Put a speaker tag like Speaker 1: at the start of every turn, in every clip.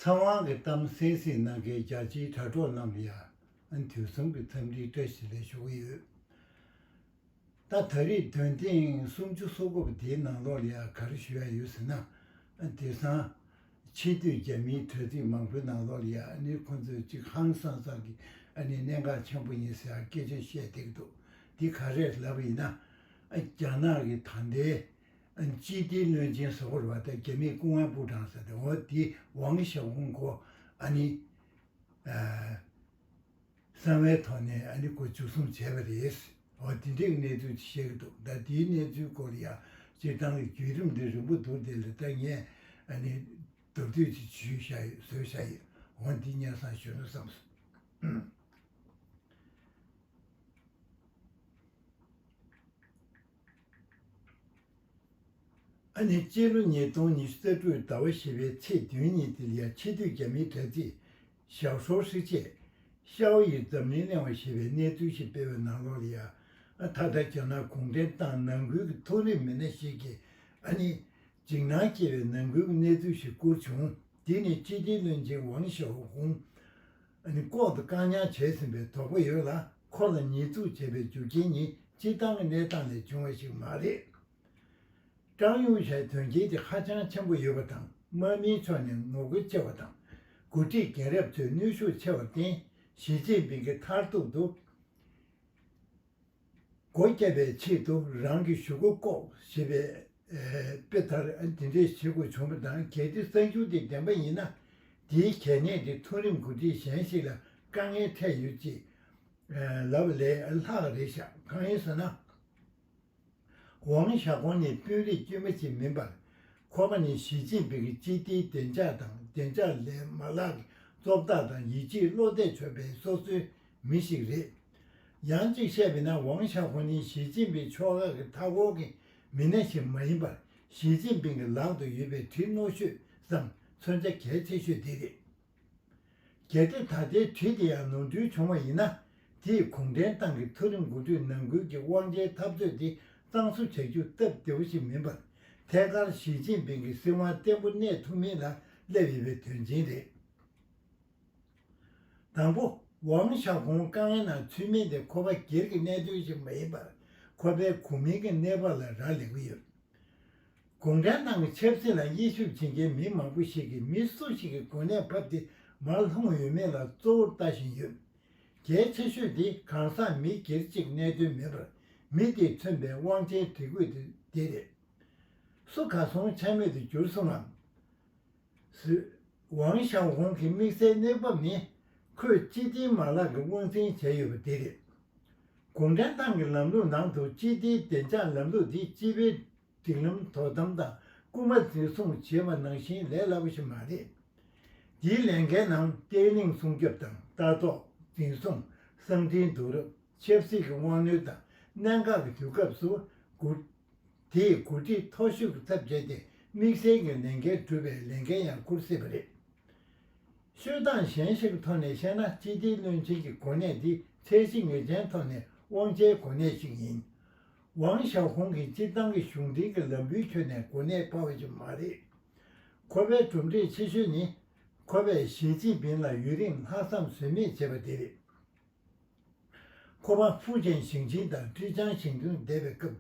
Speaker 1: ཚངས་དབང་གི་གཏམ་གསན་གཟིགས་གནང་མཁན་རྒྱ་ཆེའི་དྲ་གྲོགས་རྣམས་ཡང་དུས་གསུམ་གྱི་འཚམས་འདྲིའི་བཀྲ་ཤིས་ལས་ཞུ་གི་ཡོད། ད་ད་རེས་དོན་ཐེངས་སུམ་ཅུ་སོ་དགུ་པ་དེའི་ནང་ལོགས་ལ་ཡང་ག་རེ་ཞུ་ཡ་ཡོད་ཟེར་ན། དེ་སང། ཕྱི་སྡོད་རྒྱ་མིའི་དྲ་ཚིགས་མང་པོའི་ནང་ལོགས་ལ་ཡང་ནི་ཁོང་ཚོས་ཅིག་ཧང་སང་སང་གི་ནི་གནད་འགག་ཆེན་པོ་ཡིན་ཟེར་ཡང་སྐད་ཆ་བཤད་བསྡད་ཀྱི་འདུག་དེ་ག་རེ་ལབ་ཡིན་ན། རྒྱ་ནག་གི་ད་ལྟའི། ཅི་སྟེ་གནོད་སྦྱིན་ཟོ་བོར་བ་དང་རྒྱ་མིའི་སྐུ་དབང་པུ་ཀྲང་ཟེར་དེ་འོ་དེ་ཝང་ཞའོ་ཧུང་གོ་ཨ་ནི། གསང་བའི་ཐོག་ནས་ཨ་ནི་གོ་བཅུ་གསུམ་བྱས་པ་རེད། འོ་དེ་འདྲའི་གནས་ཚུལ་ཅིག་བཤད་གི་འདུག་ད་དེའི་གནས་ཚུལ་སྐོར་ཡང་སྤྱིར་བཏང་གི་བརྒྱུད་རིམ་འདི་རིང་པོ་འདུག་དེ་ལས་ད་ངས་ཨ་ནི་མདོར་བསྡུས་ཅིག་བརྗོད་བཞག་ཡོད་བཟོད་བཞག་ཡོད་འོ་འདི་སྙན་བཟང་གཞོན་ནུ་བསམ་སོང། ཨ་ནི་སྤྱི་ལོ་ཉིས་སྟོང་ཉི་ཤུ་རྩ་དྲུག་ཟླ་བ་བཞི་པའི་ཚེས་བདུན་ཉིན་དེ་ཡར་ཕྱི་དུས་རྒྱ་མིའི་དྲ་ཚིགས། ཞའོ་ཧྲོའུ་ཧྲི་ཅེས། ཤའོ་ཡིས་འཛམ་གླིང་གླེང་བ་ཞེས་པའི་གནས་ཚུལ་ཞིག་སྤེལ་བའི་ནང་ལོགས་ལ་ཡ་ཨ་དྷ་དྷ་རྒྱ་ནག་གུང་ཁྲན་ཏང་ནང་ཁུལ་གྱི་མཐོ་རིམ་མི་སྣ་ཞིག་གིས་ཨ་ནི། འཇིགས་སྣང་སྐྱེ་བའི་ནང་ཁུལ་གྱི་གནས་ཚུལ་ཞིག་བསྐུར་བྱུང་འདི་ནི་སྤྱི་བདེ་བློན་ཆེན་ཝང་ཞའོ་ཧུང། ནི་ལྐོག་ཏུ་བཀག་ཉར་བྱས་ཟིན་པའི་དོགས་པ་ཡོད་ལ་ཁོ་ལ་ཉེས་འཛུགས་བྱས་པའི་རྒྱུ་རྐྱེན་ནི་སྤྱིར་བཏང་གི་གནས་སྟངས་ལས་བྱུང་བ་ཞིག་མ་རེད། ཀྲང་ཡུང་ཞའི་དོན་རྐྱེན་དེ་ཧ་ཅང་ཆེན་པོ་ཡོད་པ་དང་དམག་མིའི་ཕྱོགས་ནས་ངོ་རྒོལ་ཆེ་བ་དང། འགོ་ཁྲིད་རྒན་རབས་ཚོས་ནུས་ཤུགས་ཆེ་བར་བརྟེན་ཞི་ཅིན་ཕིང་གིས་མཐར་ཐུག་ཏུ། སྒོ་བརྒྱབ་པའི་ཆེད་དུ་རང་གི་ཞུ་སྒོ་བཀོག་ཞེས་པའི་དཔེ་ལྟར་དེ་འདྲའི་བྱེད་དགོས་བྱུང་བ་དང་གལ་ཏེ་གསར་འགྱུར་དེ་བདེན་པ་ཡིན་ན། དེའི་གལ་གནད་དེ་མཐོ་རིམ་འགོ་ཁྲིད་གཞན་ཞིག་ལ་དཀའ་ངལ་འཕྲད་ཡོད་ཅེས་ལབ་པ་ལས་ལྷག་རེད་ཤག་གང་ཡིན་ཟེར་ན། ཝང་ཞའོ་ཀོང་ནི་དཔོན་རིགས་དཀྱུས་མ་ཞིག་མིན་པར། ཁོ་པ་ནི་ཞི་ཅིན་ཕིང་གི་སྤྱི་བདེའི་བདེ་འཇགས་དང་བདེ་འཇགས་ལས་མ་ལག་གི་གཙོ་བདག་དང་ཡིད་ཆེས་བློ་གཏད་ཆོད་པའི་སོ་སོའི་མི་ཞིག་རེད། ཡང་གཅིག་བཤད་པས་ན་ཝང་ཞའོ་ཀོང་ནི་ཞི་ཅིན་ཕིང་ཕྱོགས་ཁག་གི་མཐའ་འཁོར་གྱི་མི་སྣ་ཞིག་མ་ཡིན་པར་ཞི་ཅིན་ཕིང་གི་ལག་ཏུ་ཡོད་པའི་གྲི་རྣོ་ཤོས་སམ་མཚོན་ཆ་གལ་ཆེ་ཤོས་དེ་རེད། གལ་ཏེ་ད་ལྟའི་དུས་དེ་ཡང་ནོར་འཁྲུལ་བྱུང་བ་ཡིན་ན། དེས་གུང་ཁྲན་ཏང་གི་མཐོ་རིམ་དགུན་དུས་ནང་ཁུལ་གྱི་དབང་ཆའི་འཐབ་རྩོད་དེ་གཙང་བཟོ་བྱ་རྒྱུ་སྟབས་བདེ་བོ་ཞིག་མིན་པར། ཐད་ཀར་ཞི་ཅིན་ཕིང་གི་སྲིད་དབང་བརྟན་པོ་གནས་ཐུབ་མིན་ལ་སླེབས་ཡོད་པའི་དོན་ཆེན་རེད། དང་པོ། ཝང་ཞའོ་ཧྥུང་དཀའ་ངལ་ནང་ཚུད་མིན་དེ་ཁོ་པ་སྒེར་གྱི་གནད་དོན་ཞིག་མ་ཡིན་པར། ཁོ་པའི་གོ་མིང་གི་གནས་བབ་ལ་རག་ལས་ཀྱི་ཡོད། དགོངས་འགྲེལ་གནང་བའི་ཆབ་སྲིད་ལ་དབྱེ་ཞིབ་བྱེད་མཁན་མི་མང་པོ་ཞིག་གིས་མི་སུ་ཞིག་གི་གོ་གནས་ཕབ་སྟེ་མར་ལྷུང་ཡོད་མེད་ལ་གཙོ་བོར་ལྟ་བཞིན་ཡོད། གལ་ཆེ་ཤོས་དེ་གང་ཟག་མི་སྒེར་གཅིག་གནད་དོན་མིན་པར་མི་དེས་མཚོན་པའི་དབང་ཆའི་སྒྲིག་བཀོད་དེ་རེད། སུ་ག་སོང་འཆར་མེད་དུ་གྱུར་སོང་ངམ། བཟོད། ཝང་ཞའོ་ཧུང་གི་དམིགས་བསལ་གནས་བབ་ནི། ཁོས་སྤྱི་བདེའི་མ་ལག་གི་དབང་འཛིན་བྱས་ཡོད་པ་དེ་རེད། དགོངས་འགྲེལ་ཏང་གི་ལམ་ལུགས་ནང་དུ་སྤྱི་བདེའི་བདེ་འཇགས་ལམ་ལུགས་དེ་སྤྱི་པའི་སྒྲིག་ལམ་དོ་དམ་དང་རྐུ་མ་འཛིན་བཟུང་བྱེད་པ་ནང་བཞིན་ལས་སླ་པོ་ཞིག་མ་རེད། འདིའི་ལས་འགན་ནང་བརྟན་བརླིང་སྲུང་སྐྱོབ་དང་ལྟ་རྟོག་འཛིན་བཟུང་གསང་འཕྲིན་བསྡུ་རུབ་ཆབ་སྲིད་ཀྱི་དབང་ནུས་དང་གནད་འགག་གི་དུས་སྐབས་སུ་འགོ། དེས་འགོ་ཁྲིད་མཐོ་ཤོས་ཀྱི་ཚབ་བྱས་ཏེ་དམིགས་བསལ་གྱི་ལས་འགན་སྒྲུབ་པའི་ལས་འགན་ཡང་འཁུར་སྲིད་པ་རེད། ཤོད་སྟངས་གཞན་ཞིག་ཐོག་ནས་བཤད་ན་སྤྱི་བདེའི་བློན་ཆེན་གྱི་གོ་གནས་འདི་ཚད་གཞི་ངེས་ཅན་ཐོག་ནས་དབང་ཆའི་གོ་གནས་ཤིག་ཡིན། ཝང་ཞའོ་ཧུང་གིས་སྤྱིར་བཏང་གི་གཞུང་འབྲེལ་གྱི་ལམ་བུའི་ཁྱོན་ནས་གོ་གནས་སྤར་བ་ཞིག་མ་རེད། ཁོ་པའི་གྲུབ་འབྲས་ཆེ་ཤོས་ནི། ཁོ་པས་ཞི་ཅིན་ཕིན་ལ་ཡུན་རིང་ལྷག་བསམ་ཟོལ་མེད་བྱས་པ་དེ་རེད། ཁོ་པ་ཧྥུ་ཅན་ཞིང་ཆེན་དང་ཀྲི་ཅང་ཞིང་ཆུང་བསྡད་པའི་སྐབས་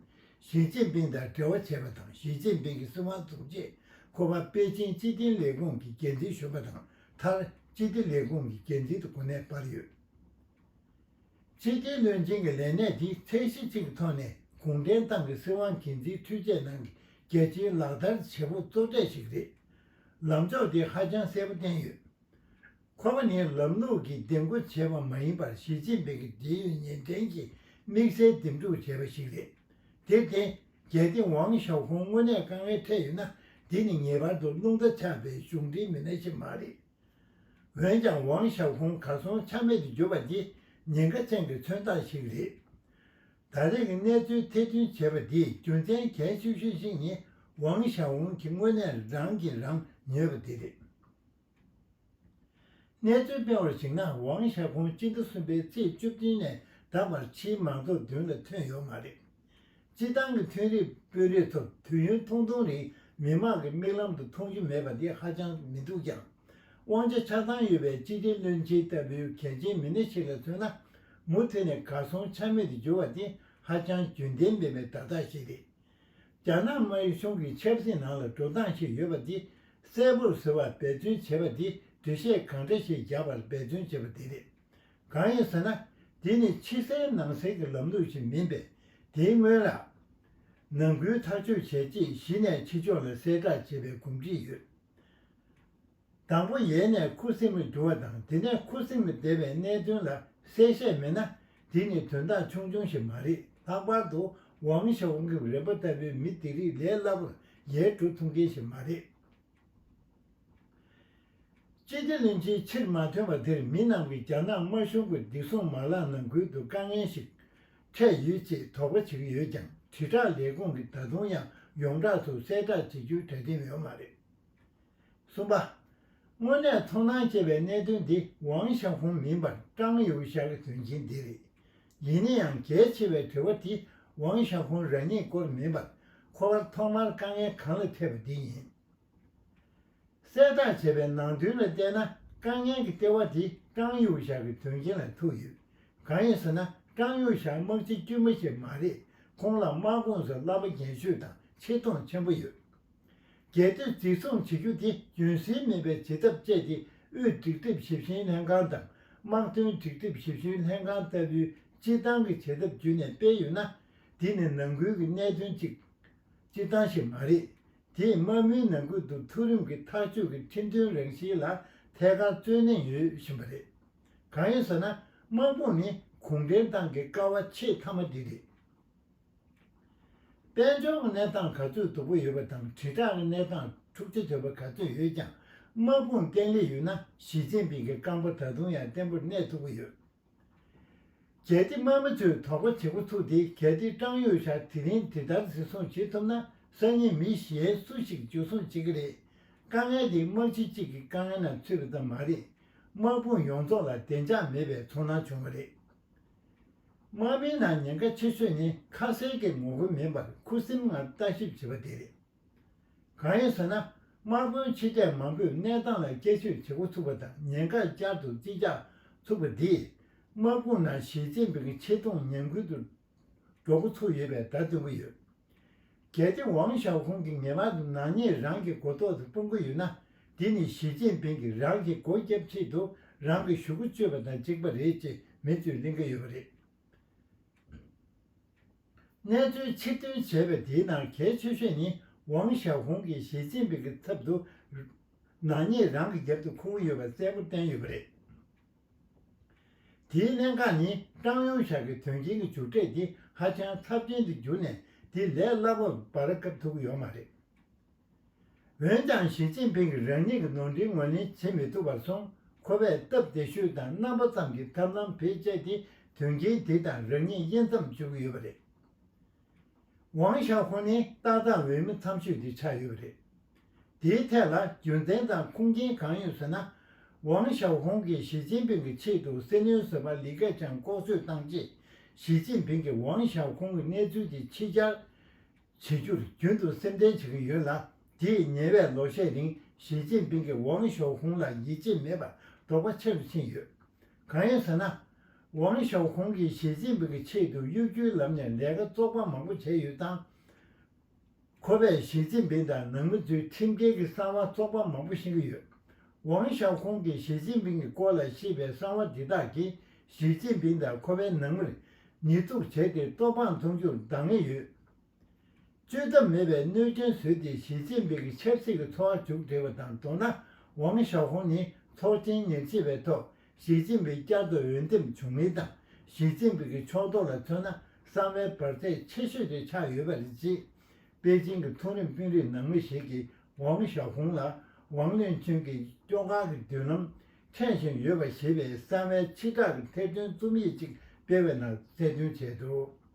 Speaker 1: ཞི་ཅིན་ཕིན་དང་འབྲེལ་བ་བྱས་པ་དང་ཞི་ཅིན་ཕིན་གྱི་སྲིད་དབང་བཙུགས་རྗེས་ཁོ་པ་པེ་ཅིན་སྤྱི་བདེ་ལས་ཁུངས་ཀྱི་འགན་འཛིན་གཞོན་པ་དང་མཐར་སྤྱི་བདེ་ལས་ཁུངས་ཀྱི་འགན་འཛིན་དུ་གོ་གནས་སྤར་ཡོད། ཕྱི་རྒྱལ་བློན་ཆེན་གྱི་ལས་གནས་དེའི་ཚད་གཞི་གཅིག་ཐོག་ནས་གུང་ཁྲན་ཏང་གི་སྲིད་དབང་གལ་འཛིན་འཕྲུལ་ཆས་ནང་གི་རྒྱལ་སྤྱིའི་ལག་བསྟར་བྱེད་པོ་གཙོ་གྲས་ཤིག་རེད། ལམ་ཕྱོགས་དེ་ཧ་ཅང་གསལ་པོ་བསྟན་ཡོད། ཁོ་པ་ནི་ལམ་ལུགས་ཀྱིས་འདེམས་བསྐོ་བྱས་པ་མ་ཡིན་པར་ཞི་ཅིན་ཕིང་གི་འབྲེལ་ཡོད་ཉེན་ཕྲན་གྱིས་དམིགས་བསལ་འདེམས་སྒྲུག་བྱས་པ་ཞིག་རེད། དེར་བརྟེན་གལ་ཏེ་ཝང་ཞའོ་ཧྥུང་དངོས་གནས་དཀའ་ངལ་འཕྲད་ཡོད་ན་དེ་ནི་ངེས་པར་དུ་རླུང་རྟ་ཆགས་པའི་གཞུང་འབྲེལ་མི་སྣ་ཞིག་མ་རེད། འོན་ཀྱང་ཝང་ཞའོ་ཧྥུང་གར་སོང་ཆ་མེད་དུ་གྱུར་པ་འདི་ཉེན་ཁ་ཅན་གྱི་མཚོན་རྟགས་ཤིག་རེད། ད་རེས་ཀྱི་གནས་ཚུལ་ཐེར་འདོན་བྱས་པ་འདིའི་རྒྱུ་མཚན་གལ་ཆེ་ཤོས་ཤིག་ནི་ཝང་ཞའོ་ཧྥུང་གིས་དངོས་གནས་རང་གིས་རང་ཉོས་པ་འདི་རེད། གནས་ཚུལ་སྤེལ་བར་གཞིགས་ན་ཝང་ཞའོ་ཧྥུང་སྤྱི་ཟླ་གསུམ་པའི་ཚེས་བཅུ་བདུན་ནས་ད་བར་ཕྱིའི་མང་ཚོགས་མདུན་ལ་ཐོན་ཡོད་མ་རེད། སྤྱིར་བཏང་གི་ཐོན་རིགས་སྤོས་རོལ་ཐོབ་དུས་ཡུན་ཐུང་ཐུང་རིང་མི་མང་གི་མིག་ལམ་དུ་མཐོང་རྒྱུ་མེད་པ་དེ་ཧ་ཅང་མི་སྡུག་ཀྱང། དབང་ཆ་ཆགས་སྡང་ཡོད་པའི་སྤྱི་བདེ་བློན་ཆེན་ལྟ་བུའི་གལ་ཆེན་མི་སྣ་ཞིག་ལ་མཚོན་ན། མུ་མཐུད་ནས་གར་སོང་ཆ་མེད་དུ་གྱུར་བ་དེ་ཧ་ཅང་རྒྱུན་ལྡན་མིན་པའི་བརྡ་རྟགས་ཤིག་རེད། རྒྱ་ནག་དམར་གཞུང་གི་ཆབ་སྲིད་ནང་ལ་འགྲོ་སྟངས་ཤིག་ཡོད་པ་དེ་གསལ་པོར་ཟེར་བར་འབད་བརྩོན་བྱེད་པ་དེ་འདུ་ཤེས་གང་འདྲ་ཞིག་རྒྱག་པར་འབད་བརྩོན་བྱེད་པ་དེ་རེད། གང་ཡིན་ཟེར་ན་དེ་ནི་ཕྱི་གསལ་ནང་གསལ་གྱི་ལམ་ལུགས་ཤིག་མིན་པས་དེའི་སྔོན་ལ། ནང་ཁུལ་ཐག་གཅོད་བྱས་རྗེས་གཞི་ནས་ཕྱི་ཕྱོགས་ལ་གསལ་བསྒྲགས་བྱེད་པའི་གོམས་འདྲིས་ཡོད། དང་པོ་ཡལ་ནས་ཁུ་སིམ་མེར་གྱུར་བ་དང་དེ་ནས་ཁུ་སིམ་མེར་བསྡད་པའི་གནད་དོན་ལ་གསལ་བཤད་མེད་ན་དེ་ནི་དོན་དག་ཆུང་ཆུང་ཞིག་མ་རེད་ལྷག་པར་དུ་ཝང་ཞའོ་ཁིམ་རེད་པོ་ལྟ་བུའི་མི་དེ་རིགས་ལས་སླ་པོར་ཡལ་འགྲོ་ཐུབ་མཁན་ཞིག་མ་རེད། ཅི་སྟེ་གླིང་ཕྱིའི་ཕྱིར་མ་ཐོན་པ་དེར་མི་སྣང་བའི་རྒྱ་ནག་དམར་གཞུང་གི་བདེ་སྲུང་མ་ལག་ནང་ཁུལ་དུ་དཀའ་ངལ་ཞིག་འཕྲད་ཡོད་ཅེས་དོགས་པ་བྱེད་ཀྱི་ཡོད་ཀྱང་དྲིལ་བསྒྲགས་ལས་ཁུངས་ཀྱིས་ད་དུང་ཡང་ཡོངས་གྲགས་སུ་གསལ་བསྒྲགས་བྱེད་རྒྱུའི་གྲ་སྒྲིག་ཡོད་མ་རེད། གསུམ་པ། དངོས་གནས་མཐོང་སྣང་སྐྱེས་པའི་གནད་དོན་དེ་ཝང་ཞའོ་ཧུང་མིན་པར་ཀྲང་ཡུའུ་ཞའོ་གི་དོན་རྐྱེན་དེ་རེད། ཡིན་ན་ཡང་གལ་ཆེ་བའི་དྲི་བ་དེ་ཝང་ཞའོ་ཧྥུང་རང་ཉིད་སྐོར་མིན་པར། ཁོ་བར་ཐོག་མར་དཀའ་ངལ་གང་ལ་འཕྲད་པ་འདི་ཡིན། གསལ་བསྒྲགས་བྱས་པའི་ནང་དོན་ལ་བལྟས་ན་དཀའ་ངལ་གྱི་ལྟེ་བ་དེ་ཀྲང་ཡུས་ཞའོ་གི་དོན་རྐྱེན་ལ་ཐུག་ཡོད། གང་ཡིན་ཟེར་ན་ཀྲང་ཡུས་ཞའོ་དམག་སྤྱི་དཀྱུས་མ་ཞིག་མ་རེད། ཁོང་ལ་དམག་ཁོངས་སུ་བསླབ་པ་རྒན་ཤོས་དང་ཆེ་མཐོང་ཆེན་པོ་ཡོད། རྒྱལ་དོན་གཙིགས་སྲུང་བྱེད་རྒྱུ་དེ་རྒྱུན་སྲིང་མེད་པའི་བྱེད་ཐབས་སྤྱད་དེ་དབུས་སྒྲིག་དེབ་ཞིབ་བཤེར་ལྷན་ཁང་དང་དམག་དོན་སྒྲིག་དེབ་ཞིབ་བཤེར་ལྷན་ཁང་ལྟ་བུའི་སྤྱིར་བཏང་གི་བྱེད་ཐབས་བརྒྱུད་ནས་སྤེལ་ཡོད་ན། འདི་ནི་ནང་ཁུལ་གྱི་གནད་དོན་གཅིག། སྤྱིར་བཏང་ཞིག་མ་རེད། དེས་དམག་མིའི་ནང་ཁུལ་དུ་མཐོ་རིམ་གྱི་ཐག་གཅོད་ཀྱི་ཁྲིམས་མཐུན་རང་བཞིན་ལ་ཐད་ཀར་བརྩོན་ལེན་ཡོད་བཞིན་པ་རེད། གང་ཡིན་ཟེར་ན་དམག་དཔུང་ནི་གུང་ཁྲན་ཏང་གི་ཀ་བ་ཆེས་མཐའ་མ་དེ་རེད། དཔལ་འབྱོར་གྱི་གནས་སྟངས་ག་ཚོད་སྡུག་པོ་ཡོད་པ་དང་དྲིལ་བསྒྲགས་ཀྱི་གནས་སྟངས་འཁྲུག་ཆ་དོད་པ་ག་ཚོད་ཡོད་ཀྱང་དམག་དཔུང་བརྟན་ལྷིང་ཡོད་ན་ཞི་ཅིན་ཕིང་གི་རྐང་པ་ད་དུང་ཡང་བརྟན་པོར་གནས་ཐུབ་ཀྱི་ཡོད། གལ་ཏེ་དམག་མི་ཚོས་དོགས་པ་བྱེད་འགོ་ཚུགས་ཏེ་གལ་ཏེ་ཀྲང་ཡོས་ཤ་དེ་རིང་དེ་ལྟར་གཟིགས་བཟུང་བྱེད་ཐུབ་ན་སང་ཉིན་མི་གཞན་སུ་ཞིག་འཇུ་བཟུང་བྱེད་ཀྱི་རེད། དཀའ་ངལ་དེ་དམག་སྤྱི་གཅིག་གི་དཀའ་ངལ་ནང་ཚུད་པ་ཙམ་མ་རེད། དམག་དཔུང་ཡོངས་རྫོགས་ལ་བདེ་འཇགས་མེད་པའི་ཚོར་སྣང་བྱུང་བ་རེད། དམག་མིའི་ནང་ཉེན་ཁ་ཆེ་ཤོས་ནི་ཁ་ཟས་ཀྱི་ངོ་རྒོལ་མིན་པར་ཁུ་སིམ་ངང་ལྟ་ཞིབ་བྱེད་པ་དེ་རེད། གང་ཡིན་ཟེར་ན་དམག་དཔོན་ཆེ་གྲས་མང་པོས་གནས་སྟངས་ལ་དཔྱད་གཞིར་བྱེད་འགོ་ཚུགས་པ་དང་ཉེན་ཁ་བསྐྱར་དུ་རྩིས་རྒྱག་ཚུགས་པ་འདིས་དམག་དཔུང་ནང་ཞི་ཅིན་ཕིང་ཆེ་མཐོང་ཉམས་རྒུད་དུ་འགྲོ་འགོ་ཚུགས་ཡོད་པའི་བརྡ་སྟོན་གྱི་ཡོད། གལ་ཏེ་ཝང་ཞའོ་ཧུང་གིས་ངེས་པར་དུ་ནག་ཉེས་རང་གི་མགོ་ཐོག་ཏུ་སྤུང་གི་ཡོད་ན། དེ་ནི་ཞི་ཅིན་ཕིང་གིས་རང་གི་མགོ་བརྒྱབ་ཆེད་དུ་རང་གི་ཞུ་སྒོ་གཅོད་པ་དང་གཅིག་པ་རེད་ཅེས་མེ་ཚོས་གླེང་གི་ཡོད་པ་རེད། གནས་ཚུལ་ཕྱིར་འདོན་བྱས་པའི་དེའི་ནང་གལ་ཆེ་ཤོས་ནི་ཝང་ཞའོ་ཧུང་གིས་ཞི་ཅིན་ཕིང་གི་ཚབ་ཏུ་ནག་ཉེས་རང་གི་རྒྱབ་ཏུ་འཁུར་གྱི་ཡོད་པ་གསལ་པོར་བསྟན་ཡོད་པ་རེད། དེའི་གནད་འགག་ནི་ཀྲང་ཡུང་ཞའོ་གིས་དོན་རྐྱེན་གྱི་མཇུག་འབྲས་དེ་ཧ་ཅང་ཚབས་ཆེན་དུ་གྱུར་ནས་དེ་ལས་སླ་པོར་བར་བཀབ་ཐུབ་ཀྱི་ཡོད་མ་རེད། འོན་ཀྱང་ཞི་ཅིན་ཕིང་གིས་རང་ཉིད་ཀྱི་ནོར་འཁྲུལ་ངོས་ལེན་བྱེད་མི་ཐུབ་པར་སོང་ཁོ་པས་སྟབས་བདེ་ཤོས་དང་རྣམ་པ་ཙམ་གྱི་ཐབས་ལམ་བེད་སྤྱད་དེ་དོན་རྐྱེན་དེ་དང་རང་ཉིད་དབྱེ་མཚམས་གཅོད་ཀྱི་ཡོད་པ་རེད། ཝང་ཞའོ་ཧུང་ནི་ཏག་ཏག་འོས་མི་མཚམས་ཆོད་འདི་ཆགས་ཡོད་རེད། དེའི་ཐད་ལ་རྒྱུ་མཚན་དང་ཁུངས་སྐྱེལ་གང་ཡོད་ཟེར་ན། ཝང་ཞའོ་ཧུང་གིས་ཞི་ཅིན་ཕིང་གི་ཆེད་དུ་སེ་ནོན་ཟེར་པ་ལི་ཁེ་ཆང་ལྐོག་གསོད་བཏང་རྗེས་ཞི་ཅིན་ཕིང་གིས་ཝང་ཞའོ་ཧུང་གི་གནས་ཚུལ་དེ་ཕྱི་གྱར་བྱེད་རྒྱུར་རྒྱུན་དུ་སེམས་ཁྲལ་བྱེད་ཀྱི་ཡོད་ལ་དེས་ཉེ་བའི་ལོ་ཤས་རིང་ཞི་ཅིན་ཕིང་གིས་ཝང་ཞའོ་ཧུང་ལ་ཡིད་ཆེས་མེད་པར་དོགས་པ་ཆེ་རུ་ཕྱིན་ཡོད། གང་ཡིན་ཟེར་ན། ཝང་ཞའོ་ཧུང་གིས་ཞི་ཅིན་ཕིང་གི་ཆེད་དུ་གཡོ་སྒྱུའི་ལམ་ནས་ལས་ཀ་བཙོག་པ་མང་པོ་བྱས་ཡོད་སྟངས། ཁོ་པས་ཞི་ཅིན་ཕིང་དང་ནང་མི་ཚོའི་ཁྲིམས་འགལ་གྱི་གསང་བ་བཙོག་པ་མང་པོ་བཤད་ཀྱི་ཡོད། ཝང་ཞའོ་ཧུང་གིས་ཞི་ཅིན་ཕིང་གི་སྐོར་ལ་བཤད་པའི་གསང་བ་འདི་དག་གིས་ཞི་ཅིན་ཕིང་དང་ཁོ་པའི་ནང་མིར་ཉེས་འཛུགས་བྱས་ཏེ་བཙོག་འབངས་འཚོང་རྒྱུར་འདང་ངེས་ཡོད། བཅོས་ཐབས་མེད་པའི་གནོད་སྐྱོན་བཟོས་ཏེ་ཞི་ཅིན་ཕིང་གི་ཆབ་སྲིད་ཀྱི་འཚོ་བ་མཇུག་བསྒྲིལ་བ་དང་འགྲོགས་ན་ཝང་ཞའོ་ཧུང་ནི་ཚོགས་ཆེན་ཉེར་བཞི་པའི་ཐོག་ཞི་ཅིན་ཕིང་བསྐྱར་དུ་འོས་འདེམས་བྱུང་མིན་དང་ཞི་ཅིན་ཕིང་གི་ཕྱོགས་གཏོགས་ལ་མཚོན་ན་གསང་བའི་བར་ཚད་ཆེ་ཤོས་དེ་ཆགས་ཡོད་པ་རེད། ཅེས་པེ་ཅིང་གི་མཐོ་རིམ་དཔོན་རིགས་ནང་མི་ཞིག་གིས་ཝང་ཞའོ་ཧུང་ལ་ཝང་ལིན་ཆོན་གྱི་སྐྱོ་གར་གྱི་མདུན་ལམ་འཁྱེར་བཞིན་ཡོད་པ་ཞེས་པའི་གསང་བའི་ཕྱི་བསྒྲགས་ཀྱི་ཐེར་འདོན་རྩོམ་ཡིག་ཅིག་སྤེལ་བའི་ནང་གསལ་སྟོན་བྱས་འདུག།